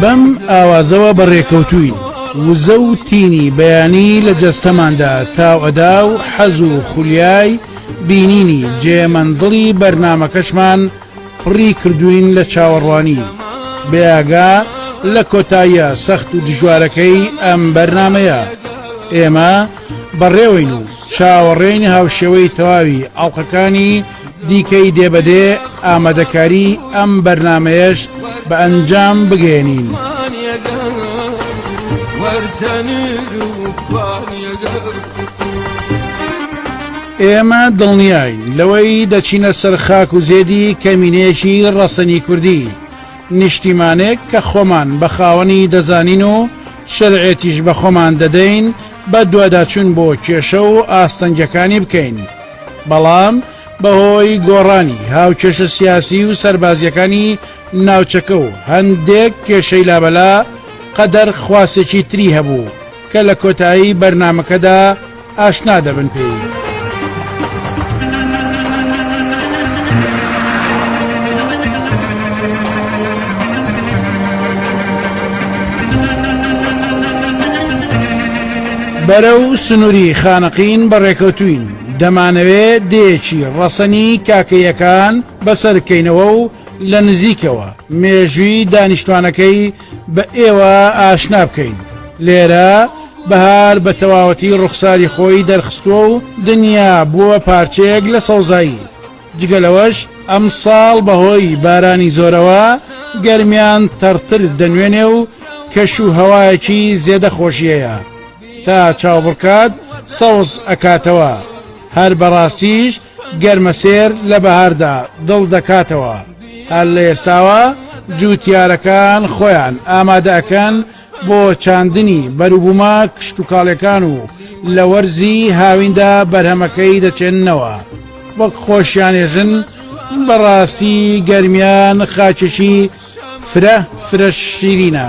بەم ئاوازەوە بەڕێکەوتووین وزە و تینی بەیانی لە جەستەماندا تاو ئەدا و حەز و خولیای بینینی جێ مەنزڵی بەرنمەکەشمان پڕی کردوین لە چاوەڕوانی بێگا لە کۆتاییە سەخت و دژوارەکەی ئەم بەرنمەیە ئێمە بەڕێوەین و چاوەڕێین هاوشێوەی تەواوی ئاڵلقەکانی دیکەی دێ بە دێ ئامادەکاری ئەم بەرنمەیەش بە ئەنجام بگەێنین. ئێمە دڵنیایی لەوەی دەچینە سەر خاک و زێدی کەمینێکی ڕەسەنی کوردی نیشتیمانێک کە خۆمان بە خاوەنی دەزانین و شەرعێتیش بە خۆمان دەدەین بە دوواداچون بۆ کێشە و ئاستەنگەکانی بکەین. بەڵام بەهۆی گۆڕانی هاوکێشە سیاسی و سەربازییەکانی ناوچەکە و هەندێک کێشەی لابەلا، قەدەر خواسێکی تری هەبوو کە لە کۆتایی بەرنامەکەدا ئاشنا دەبن پێی. بەرەو سنوری خانەقین بەڕێکەوتوین، دەمانەوێ دێیەکی ڕەسەنی کاکەییەکان بەسەر کەینەوە و لە نزیکەوە مێژوی دانیشتوانەکەی بە ئێوە ئاشنا بکەین. لێرە بەهار بە تەواوەتی ڕوخساری خۆی دەرخستوە و دنیا بوە پارچەیەک لە سەوزایی. جگە لەوەش ئەمساڵ بەهۆی بارانی زۆرەوە گەرمیان تەڕتر دەنوێنێ و کەش و هەوایەکی زێدە خۆشیەیە تا چاوبڕکات سەوز ئەکاتەوە هەر بەڕاستیش گەرمەسێر لە بەهاردا دڵ دەکاتەوە هەر لە ئێستاوە جووتیارەکان خۆیان ئامادەکەن بۆ چاندنی بەروبوومە کشتوکاڵیەکان و لە وەرزی هاویندا بەرهەمەکەی دەچێننەوە وەک خۆشیانێژن، بەڕاستی گەرمیان خاکێکی فرە فرە شیرینە.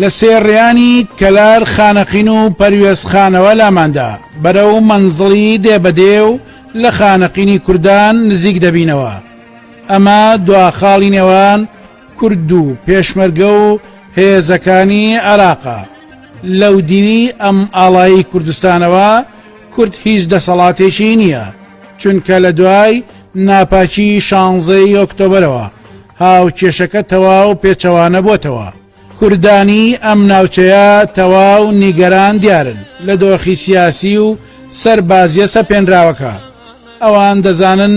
لە سێڕیانی کەلار خانەقین و پەروێزخانەوە لاماندا بەرەو مەنزڵی دێبەدێ و لە خانەقینی کوردان نزیک دەبینەوە ئەمە دواخاڵی نێوان کورد و پێشمەرگە و هێزەکانی عێراقە لەو دیوی ئەم ئاڵایی کوردستانەوە کورد هیچ دەسەڵاتێکی نییە چونکە لە دوای ناپاکی شانزەی ئۆکتۆبرەوە هاو کێشەکە تەواو پێچەوانە بۆتەوە کوردانی ئەم ناوچەیە تەواو نیگەران دیارن لە دۆخی سیاسی و سەر بازیە سەپێنراوەکە ئەوان دەزانن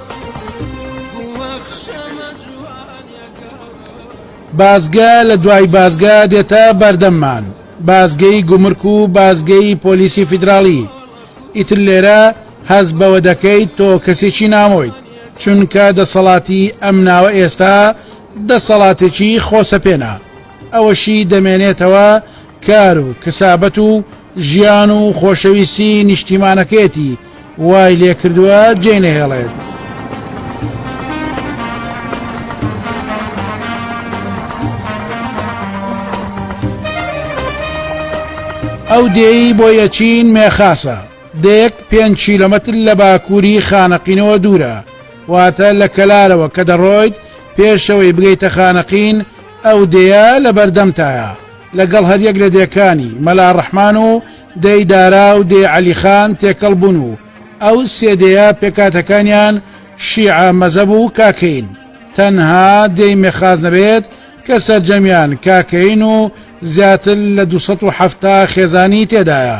بازگە لە دوای بازگە دێتە بەردەممان بازگەی گومرک و بازگەی پۆلیسی فیدراڵی ئیتر لێرە هەز بەوە دەکەیت تۆ کەسێکی نامۆیت چونکە دەسەڵاتی ئەم ناوە ئێستا دەسەڵاتێکی خۆسەپێنا ئەوەشی دەمێنێتەوە کار و کەسابەت و ژیان و خۆشەویستی نیشتیمانەکەیەتی وای لێکردووە جێ نەهێڵێت. ئەو دێی بۆ یەچین مێخاسە دەیەک پێنج کیلومتر لە باکووری خانەقینەوە دوورە واتە لە کەلارەوە کە دەڕۆیت پێشەوەی بگەیتە خانەقین ئەو دێە لە بەردەمتایە لەگەڵ هەریەک لە دێکانی، مەلا ڕەحمان و دێی دارا و دێی عەلیخان، تێکەڵ بوون و ئەو سێ دێیە پێکهاتەکانیان شیعە مەزەب و کاکەیین. تەنها دێی مێخاز نەبێت کە سەرجەمیان کاکەیین و زیاتر لە دوو سەد و حەفتا خێزانی تێدایە.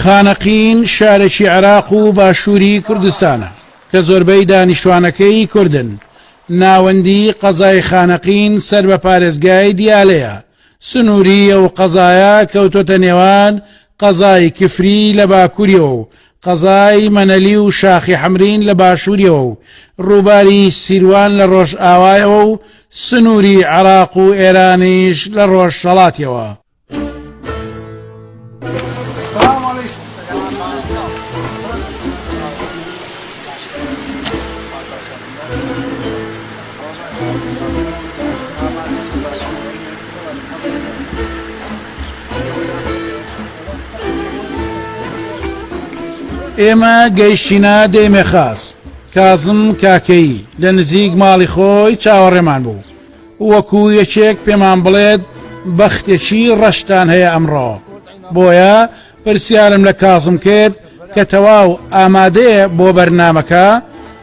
خانەقین شارێکی عێراق و باشووری کوردستانە کە زۆربەی دانیشتوانەکەی کوردن، ناوەندی قەزای خانەقین سەر بە پارێزگای دیالەیە، سنووری ئەو قەزایە کەوتۆتە نێوان قەزای کفری لە باکووریەوە و قەزای مەنەلی و شاخی حەمرین لە باشووریەوە و ڕووباری سیروان لە ڕۆژئاوایەوە و سنووری عێراق و ئێرانیش لە ڕۆژهەڵاتیەوە ئێمە گەیشتینە دێمێ خاس کازم کاکەیی لە نزیک ماڵی خۆی چاوەڕێمان بوو وەکو یەکێک پێمان بڵێت بەختێکی ڕەشتان هەیە ئەمڕۆ، بۆیە پرسیارم لە کازم کرد کە تەواو ئامادەیە بۆ بەرنامەکە،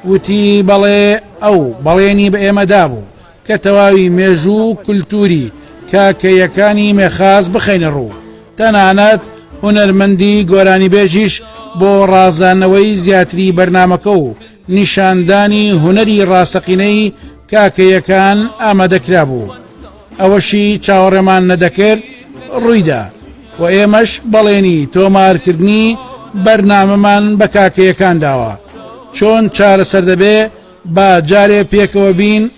وتی بەڵێ، ئەو بەڵێنی بە ئێمە دابوو کە تەواوی مێژوو و کولتووری کاکەییەکانی مێخاس بخەینە ڕوو، تەنانەت هونەرمەندی گۆرانیبێژیش بۆ ڕازاندنەوەی زیاتری بەرنامەکە و نیشاندانی هونەری ڕاستەقینەی کاکەیەکان ئامادەکرابوو، ئەوەشی چاوەڕێمان نەدەکرد ڕوویدا و ئێمەش بەڵێنی تۆمارکردنی بەرنامەمان بە کاکەیەکان داوە، چۆن چارەسەر دەبێ با جارێ پێکەوە بین.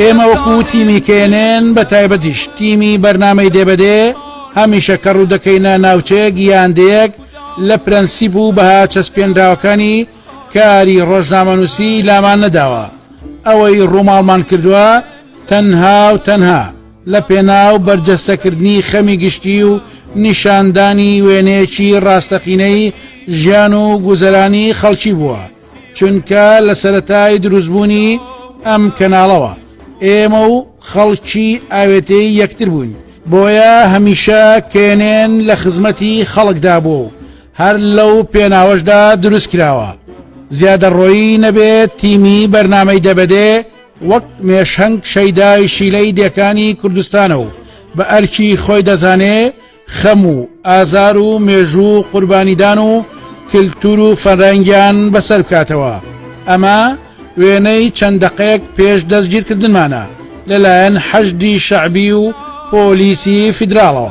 ئێمە وەکو تیمی کێنێن بە تایبەتیش تیمی بەرنمەی دێبەدێ هەمیشە کە ڕوودەکەینە ناوچەیەک یان دێک لە پرەنسیب و بەها چەسپێنراوەکانی کاری ڕۆژنامەنووسی لامان نەداوە ئەوەی ڕووماڵمان کردووە تەنها و تەنها لە پێناو بەرجەستەکردنی خەمی گشتی و نیشاندانی وێنەیەکی ڕاستەقینەی ژیان و گوزەرانی خەڵکی بووە، چونکە لە سەرەتای دروستبوونی ئەم کەناڵەوە ئێمە و خەڵکی ئاوێتەی یەکتر بووین، بۆیە هەمیشە کێنێن لە خزمەتی خەڵکدا بووە و هەر لەو پێناوەشدا دروستکراوە، زیادەڕۆیی نەبێت تیمی بەرنامەی دە بە دێ، وەک مێشهنگ شەیدای شیلەی دێکانی کوردستانە و بە ئەرکی خۆی دەزانێ خەم و ئازار و مێژوو و قوربانیدان و کلتور و فەرەنگیان بەسەر بکاتەوە ئەمە وێنەی چەند دەقەیەک پێش دەستگیرکردنمانە لەلایەن حەشدی شەعبی و پۆلیسی فیدراڵەوە.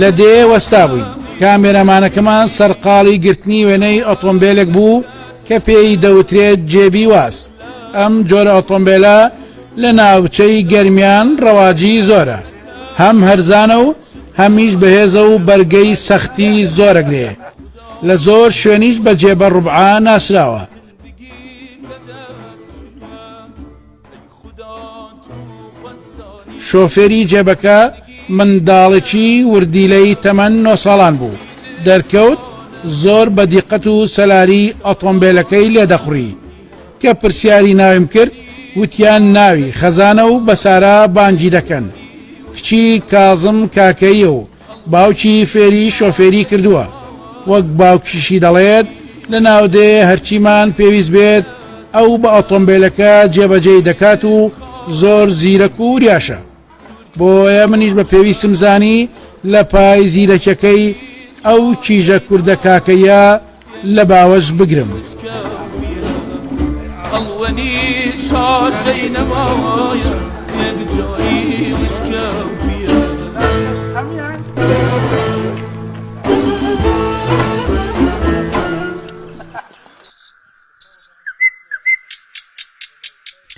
لە دێ وەستا بووین کامێرەمانەکەمان سەرقاڵی گرتنی وێنەی ئۆتۆمبیلێک بوو کە پێی دەوترێت جێبی واز ئەم جۆرە ئۆتۆمبیلە لە ناوچەی گەرمیان ڕەواجی زۆرە هەم هەرزانە و هەمیش بەهێزە و بەرگەی سەختی زۆرەگرێ لە زۆر شوێنیش بە جێبە ڕوبعا ناسراوە شۆفێری جێبەکە منداڵێکی وردیلەی تەمەن نۆ ساڵان بوو، دەرکەوت زۆر بە دیقەت و سەلاری ئۆتۆمبێلەکەی لێ دەخوڕی، کە پرسیاری ناویم کرد وتیان ناوی خەزانە و بە سارا بانگی دەکەن، کچی کازم کاکەییە و باوکی فێری شۆفێری کردووە، وەک باوکیشی دەڵێت، لە ناودێ هەرچیمان پێویست بێت ئەو بە ئۆتۆمبێلەکە جێبەجێی دەکات و زۆر زیرەک و وریاشە. بۆیە منیش بە پێویستم زانی لە پای زیرەکیەکەی ئەو کیژە کوردە کاکەییە لە باوەش بگرم.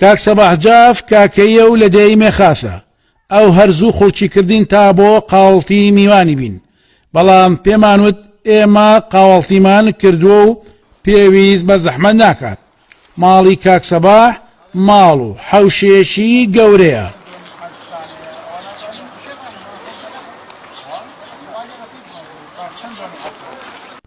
کاک سەباح جاف کاکەییە و لە دێی مێخاسە ئەو هەر زوو خوڵکی کردین تا بۆ قاوەڵتی میوانی بین، بەڵام پێمان وت ئێمە قاوەڵتیمان کردووە و پێویست بە زەحمەت ناکات. ماڵی کاک سەباح ماڵ و حەوشەیەکی گەورەیە.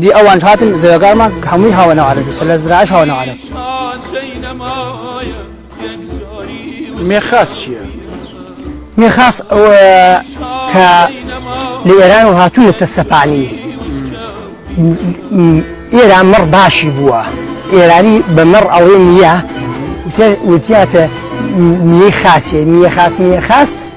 دی ئەوان هاتن زەویەکانمان هەمووی هاوە ناو عەرەبی سەر لە زراعش هاوە ناو عەرەب. مێخاس چیە؟ مێخاس ئەوە کە لە ئێران و هاتوو لە تەسەپانی ئێران مەڕ باشی بووە ئێرانی بە مەڕ ئەوەی نییە وتیاتە نیە خاسی نیە خاس نیە خاس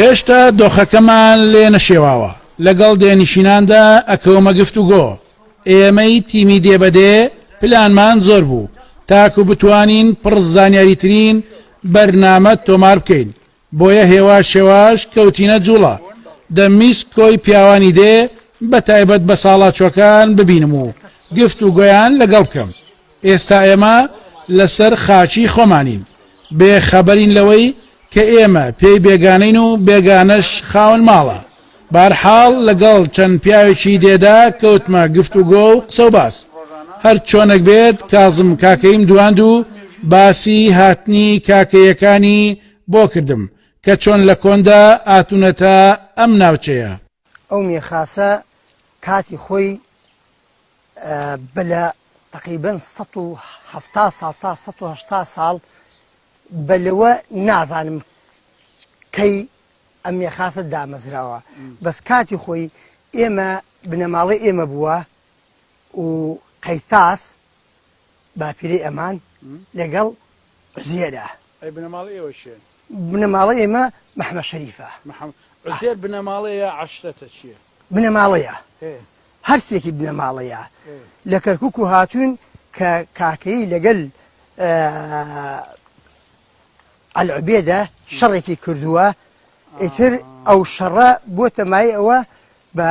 هێشتا دۆخەکەمان لێ نەشێواوە، لەگەڵ دێنشیناندا ئەکەومە گفتوگۆ، ئێمەی تیمی دێ بە دێ پلانمان زۆر بوو تاکو بتوانین پڕ زانیاریترین بەرنامە تۆمار بکەین، بۆیە هێواش هێواش کەوتینە جوڵە، دەمویست کۆی پیاوانی دێ بە تایبەت بەساڵاچوەکان ببینم و گفت و گۆیان لەگەڵ بکەم، ئێستا ئێمە لەسەر خاکی خۆمانین بێ خەبەرین لەوەی کە ئێمە پێی بێگانەین و بێگانەش خاوەن ماڵە، بەرحاڵ لەگەڵ چەند پیاوێکی دێدا کەوتمە گفت و گۆ و قسە و باس، هەر چۆنەک بێت کازم کاکەییم دواند و باسی هاتنی کاکەییەکانی، بۆ کردم کە چۆن لە کۆندا ئاتونەتە ئەم ناوچەیە. ئەو مێخاسە کاتی خۆی بە لە تەقریبەن سەد و حەفتا ساڵ تا سەد و هەشتا ساڵ بە لەوە نازانم کەی ئەم مێخاسە دامەزراوە بەس کاتی خۆی ئێمە بنەماڵەی ئێمە بووە و قەیتاس باپیرەی ئەمان لەگەڵ عوزێرە. ئەی بنەماڵەی ئێوە کێن؟ بنەماڵەی ئێمە مەحمەد شەریفە. مەحمەد. عوزێر بنەماڵەیە یا عەشرەتە چییە؟ بنەماڵەیە. ئێ. هەرسێکی بنەماڵەیە. ئێ. لە کەرکووک و هاتوون کە کاکەیی لەگەل ئەلعوبێدە شەڕێکی کردووە ئیتر ئەو شەڕە بۆتە مایەی ئەوە بە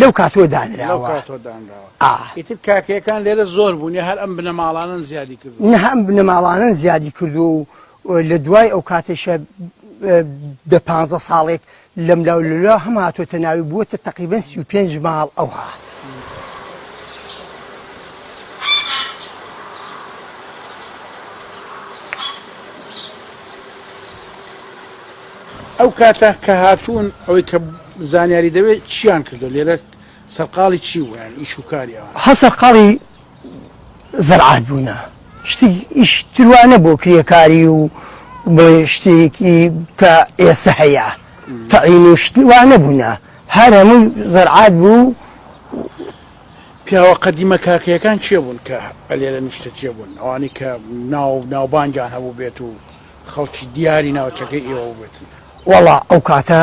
لەو کاتوە دانراوە ئا. ئیتر کاکەیەکان لێرە زۆر بوون یا هەر ئەم بنەماڵانەن زیادی کردووە؟ نها ئەم بنەماڵانەن زیادی کردووە و لە دوای ئەو کاتەیشە دە پانزە ساڵێک لەملا و لەولا هەم هاتۆتە ناوی بووەتە تەقریبەن سی و پێنج ماڵ ئەوها. ئەو کاتە کە هاتوون ئەوەی کە. زانیاری دەوێت چیان کردوە لێرە سەرقاڵی چی بوو یان ئیش و کاری ئەوان؟ هە سەرقاڵی زەرعات بوونە شتی ئیش تروە نەبوو کرێکاری و بڵێ شتێکی کە ئێسە هەیە تەعین و شتوا نەبوونە هەر هەمووی زەرعات بوو پیاوە قەدیمە کاکەیەکان چێ بوون کە ئەلێرە نیشتە چێ بوون ئەوانی کە ناو ناوبانگیان هەبوو بێت و خەڵکی دیاری ناوچەکەی ئێوە بێتن وەڵا ئەو کاتە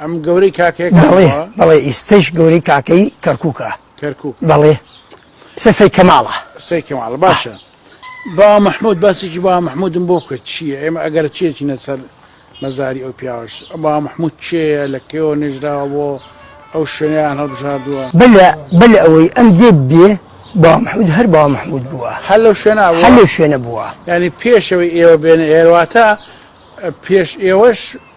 ئەم گەورەی کاکەکەڵێ بەڵێ ئیستش گەورەی کاکەی کەرکووکە کەرکک بەڵێ سەسەی کەماڵە سەی کەماڵ باشە با مححمود باسێکی با مححمودم بۆ بکە چییە ئێمە ئەگەر چێکی نەسەر مەزاری ئەو پیاوەش با مححمود چێە لە کێوە نێژراوە بۆ ئەو شوێنیان هەڵبژاردووە بلە بل ئەوەی ئەم دێ بێ با مححمود هەر با مححمود بووە هەر لەو شوێنە هەر لەو شوێنە بووە ینی پێشەوەی ئێوە بێنە ئێرواتە پێش ئێوەش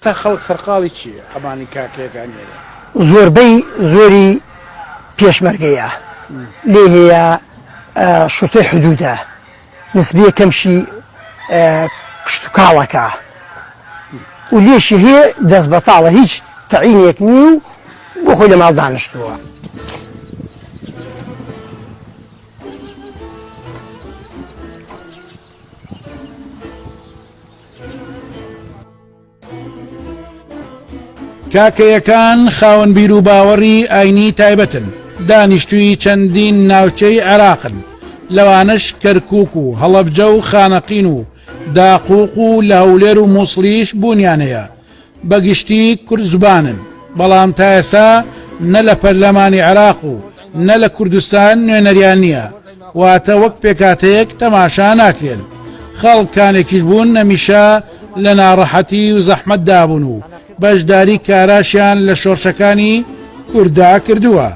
تا خەڵک سەرقاڵی چیە ئەمانی کاکەیەکان یەرێ. زۆربەی زۆری پێشمەرگەیە لێ هەیە شورتەی حدودە نسبیە کەمشی کشت و کاڵەکە و لێشی هەیە دەست بەتاڵە هیچ تەعینێک نیە و بۆ خۆی لە ماڵ دانشتووە. کاکەیەکان خاوەن بیر و باوەڕی ئاینی تایبەتن دانیشتووی چەندین ناوچەی عێراقن لەوانەش کەرکک و هەڵەبجە و خانەقین و داقوق و لە هەولێر و مووسڵیش بوونیانەیە بە گشتی کورد زبانن، بەڵام تا ئێستا نە لە پەرلەمانی عێراق و نە لە کوردستان نوێنەریان نییە، واتە وەک پێکهاتەیەک تەماشا ناکرێن. خەڵک کانێکیش بوون نەمیشە لە ناڕەحەتی و زەحمەتدا بوون و بەشداری کاراشیان لە شۆرشەکانی کورددا کردووە.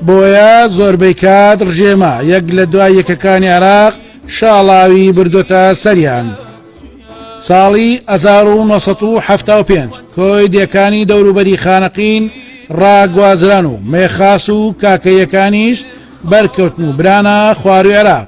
بۆیە زۆربەی کات ڕژێمە یەک لە دوای یەکەکانی عراق شاڵاوی بردۆتە سەریان. ساڵی 1970 کۆی دێکانی دەوروبەری خانەقین ڕاگوازران و مێخاس و کاکەیەکانیش بەرکەوتن و برانە خواروی عراق.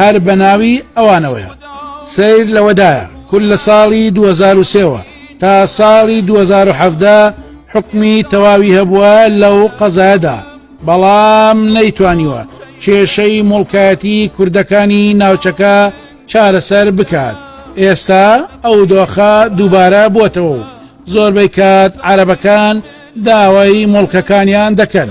هەر بە ناوی ئەوانەوەیە. سەیر لەوەدایە کورد لە ساڵی دوو هەزار و سێ وە تا ساڵی دوو هەزار و حەڤدە حوکمی تەواوی هەبووە لەو قەزایەدا، بەڵام نەیتوانیوە کێشەی موڵکایەتی کوردەکانی ناوچەکە چارەسەر بکات، ئێستا ئەو دۆخە دووبارە بۆتەوە و زۆربەی کات عەرەبەکان داوای موڵکەکانیان دەکەن.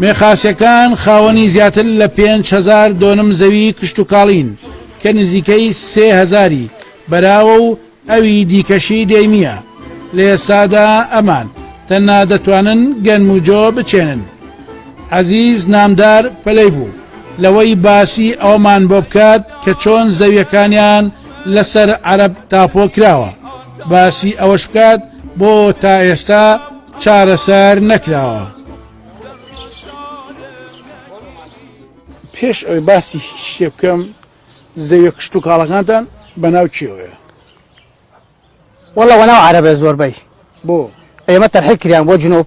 میخاسیەکان خاوەنی زیاتر لە 5هزار دۆنم زەوی کشتتوکاڵین کە نزیکەی سێ هزاری بەراوە و ئەوی دیکەشی دێمیە لە ئێستادا ئەمان تەننا دەتوانن گەنم و جۆ بچێنن عزیز نامدار پەلەی بوو لەوەی باسی ئەومان بۆ بکات کە چۆن زەویەکانیان لەسەر عرب تاپۆ کراوە. باسی ئەوەش بکات بۆ تا ئێستا چارەسەر نەکراوە. پێش ئەوی باسی هیچ شتێ بکەم زەویە کشت و کاڵەکانتان بەناو کێوەیە وەڵە وەناو عربە زۆربەی بۆ ئێمە تەرحی کریان بۆ جنوب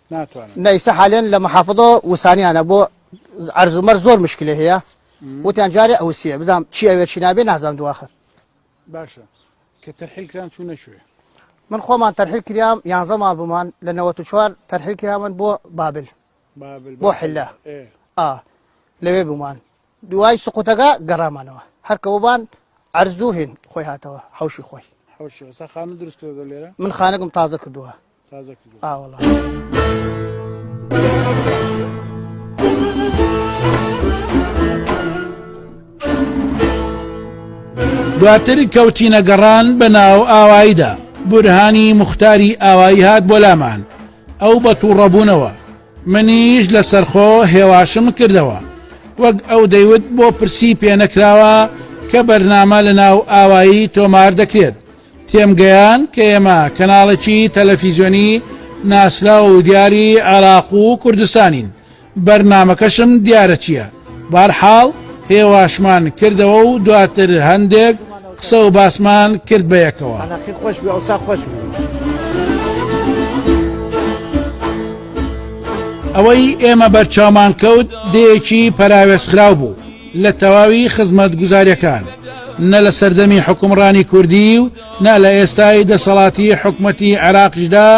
ناتوانن نە ئیسە حالێن لە محافظە وسانیانە بۆ عەرز و مەرز زۆر مشکلە هەیە وتیان جارێ ئەوسیە بزانام چی ئەوێ چی نابێ نازانم دواخر باشە کە تەرحیل کران چوو نەشوێ من خۆمان تەرحیل کریام یانزە ماڵ بمان لە 94 تەرحیل کرامان بۆ بابل بابل بۆ حلە ئێ. ئا لەوێ بمان دوای سقوتەکە گەڕامانەوە هەرکەوەبان ئەرزوو هێن خۆی هاتەوە حوشی خۆی حەوشی سا خانە دروست کردە لێرە من خانەکەم تازە کردووە دواتر کەوتینە گەڕان بە ناو ئاواییدا بورهانی مختاری ئاوایی هات بۆ لامان ئەو بە تووڕەبوونەوە منیش لە سەرخۆ هێواشم کردەوە وەک ئەو دەیوت بۆ پرسی پێنەکراوە کە بەرنامە لە ناو ئاوایی تۆمار دەکرێت تێمگەیاند کە ئێمە کەناڵێکی تەلەفیزیۆنی ناسراو و دیاری عێراق و کوردستانین، بەرنامەکەشم دیارە چییە، بەهەرحاڵ هێواشمان کردەوە و دواتر هەندێک قسە و باسمان کرد بە یەکەوە. ئەوەی ئێمە بەرچاومان کەوت دێیەکی پەراوێزخراو بوو، لە تەواوی خزمەتگوزاریەکان، نە لە سەردەمی حوکمڕانی کوردی و نە لە ئێستای دەسەڵاتی حکومەتی عێراقیشدا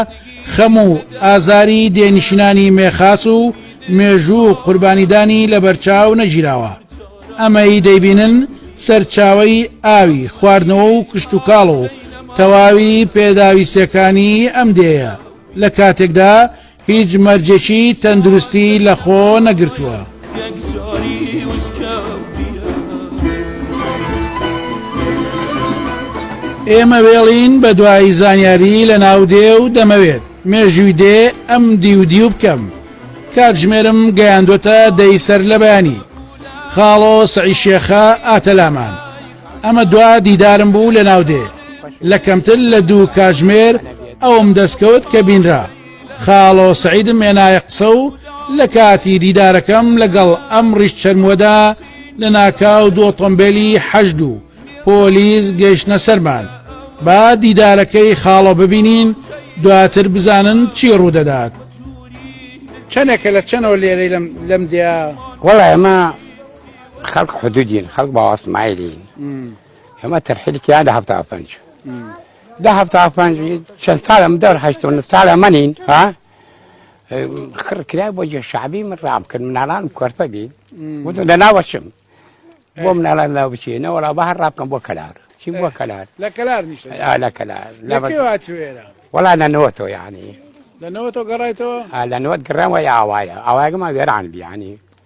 خەم و ئازاری دێنشینانی مێخاس و مێژوو و قوربانیدانی لەبەرچاو نەگیراوە. ئەمەی دەیبینن سەرچاوەی ئاوی خواردنەوە و کشتوکاڵ و تەواوی پێداویستیەکانی ئەم دێیە، لە کاتێکدا هیچ مەرجێکی تەندروستی لەخۆ نەگرتووە. ئێمە وێڵین بە دوای زانیاری لە ناو دێ و دەمەوێت مێژووی دێ ئەم دیو دیو بکەم کاتژمێرم گەیاندۆتە دەی سەر لە بەیانی خاڵۆ سعی شێخە ئاتەلامان ئەمە دوا دیدارم بوو لە ناو دێ لە کەمتر لە دوو کاژمێر ئەوم دەستکەوت کە بینرا خاڵۆ سەعیدم هێنایە قسە و لە کاتی دیدارەکەم لەگەڵ ئەم ڕیش چەرموەدا لە ناکاو دوو ئۆتۆمبێلی حەشد و پۆلیس گەیشتنە سەرمان با دیدارەکەی خاڵۆ ببینین دواتر بزانن چی ڕوودەدات چەنێکە لە چەنەوە لێرەی لەم لەم دیا وەڵا ئێمە خەڵک حدودین خەڵک باوەسمایلین ئێمە تەرحیلکیان لە هەفتا پێنج لە هەفتا و پەنج چەند ساڵە من دەور هەشت و نە ساڵە منین ها خڕ کرا بۆ جێ شعبی من ڕام کرد مناڵانم کۆرپە بین وتم لە ناوەچم بۆ مناڵان ناو بچێ نەوەڵا بە هەر ڕابکەم بۆ کەلار چی بۆ کەلار لە کەلار نیشتە آه، لە کەلار لە لەکەی بەغ- هاتوێرە وەڵا نەنەوە تۆ یعنی لەنەوە تۆ گەڕایتەوە آه، لە نوت گڕەوە ئاوایە ئاوایگەمان وێران بیانی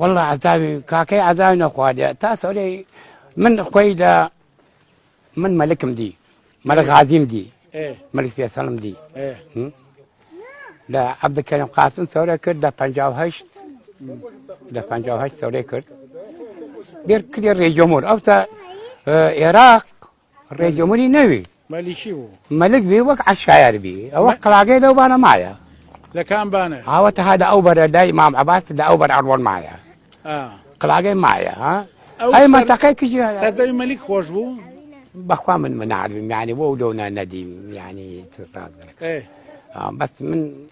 واللە عەزابی کاکەی عەزابی نەخواردە تا سەرەی من خۆی لە من مەلکم دی مەلک غازیم دی مەلک فێسەڵم دی لە عەبدکەرم قاسم سەورە کرد لە پ لە پ سەورەی کرد بێر کلی ڕێجۆمۆر ئەوتا عێراق ڕێگە منی نەوی مەلیکی بوو مەلک بی وەک عشایەر بی ئەوە قراگەی لەو بانە مایە لەکان بانە ئاوە تەها لە ئەو بەرە لای مام عباس لە ئەو بەر ئەڕوەن مایە قراگەی مایە ها ئەی منتەقەی کژی سەدەی مەلیک خۆش بوو بەخوا من منعربیم یعنی بۆ لەونا نەدیم یعنی بەس من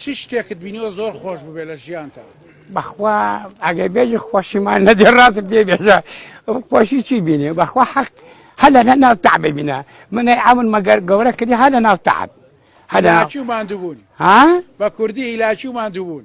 چ شتێکت بینیوە زۆر خۆش بوبێ لە ژیانتا؟ بەخوا ئەگەر بێژی خۆشیمان نەدێ ڕاست پێ بێژە خۆشی چی بینێ بەخوا حەق هەر لە ناو تەعب بینە منەی ئەمن مەگەر گەورە کردی هەر لە ناو تەعب هەر لە ناو- هیلاکی و ماندووبوون ها بە کوردی هیلاکی و ماندووبوون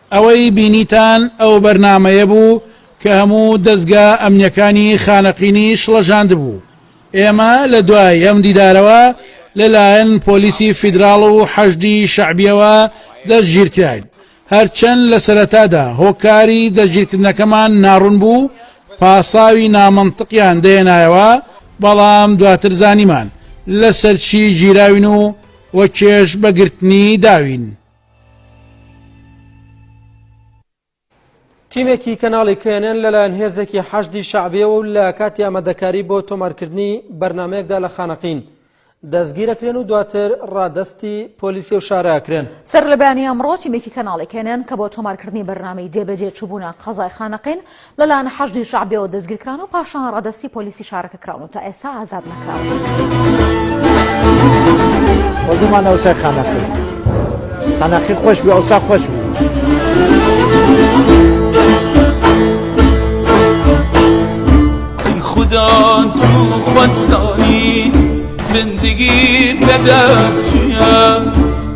ئەوەی بینیتان ئەو بەرنامەیە بوو کە هەموو دەزگا ئەمنیەکانی خانەقینی شڵەژاندبوو. ئێمە لە دوای ئەم دیدارەوە لە لایەن پۆلیسی فیدراڵ و حەشدی شەعبیەوە دەستگیرکراین. هەرچەند لە سەرەتادا هۆکاری دەستگیرکردنەکەمان ناڕوون بوو، پاساوی نامەنتقیان دەهێنایەوە، بەڵام دواتر زانیمان لەسەر چی گیراوین و وەکێش بە گرتنی داوین. تیمێکی کەناڵی کێنێن لەلایەن هێزێکی حەشدی شعبیەوە و لە کاتی ئامادەکاری بۆ تۆمارکردنی بەرنمەیەکدا لە خانەقین دەستگیرەکرێن و دواتر ڕادستی پۆلیسی و شاراکرێن سەر لە بەیانی ئەمڕۆ تیمێکی کەناڵی کێنێن کە بۆ تۆمارکردنی بەرنامی جێبەجێ چوبوونە قەزای خانەقین لەلایەن حەشدی شەعبیەوە دەستگیرکران و پاشان ڕادەستی پۆلیسی شارەکە کراون و تا ئێستا ئازاد نەکراون.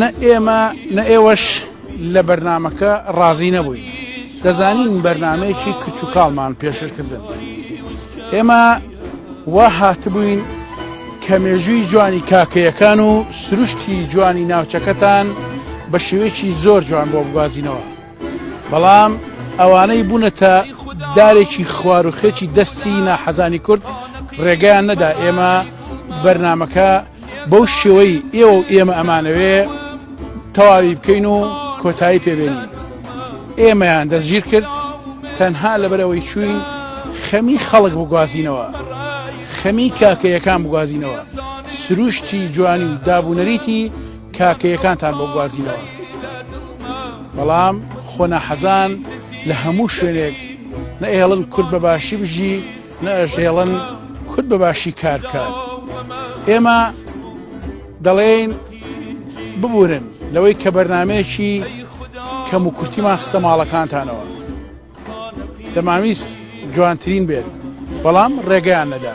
نە ئێمە نە ئێوەش لە بەرنامەکە ڕازی نەبووین دەزانین بەرنمەیەکی کچ و کاڵمان پێشکردن ئێمە وا هاتبووین کە مێژووی جوانی کاکەیەکان و سروشتی جوانی ناوچەکەتان بە شێوەیەکی زۆر جوان بۆ بگوازینەوە بەڵام ئەوانەی بوونەتە دارێکی خواروخێکی دەستی ناحەزانی کورد ڕێگەیان نەدا ئێمە بەرنمەکە بەو شێوەی ئێوە و ئێمە ئەمانەوێ تەواوی بکەین و کۆتایی پێبێنین ئێمەیان دەستگیر کرد تەنها لەبەرەوەی چوین خەمی خەڵک بگوازینەوە خەمی کاکەیەکان بگوازینەوە سروشتی جوانی و دابوونەریتی کاکەیەکانتان بۆ گوازینەوە بەڵام خۆنا حەزان لە هەموو شوێنێک نەهێڵن کورد بە باشی بژی نەئەژێڵن کورد بە باشی کار بکات ئێمە دەڵێین ببورن لەوەی کە بەرنمەیەکی کەم و کورتیمان خستە ماڵەکانتانەوە دەماویست جوانترین بێت بەڵام ڕێگەیان نەدا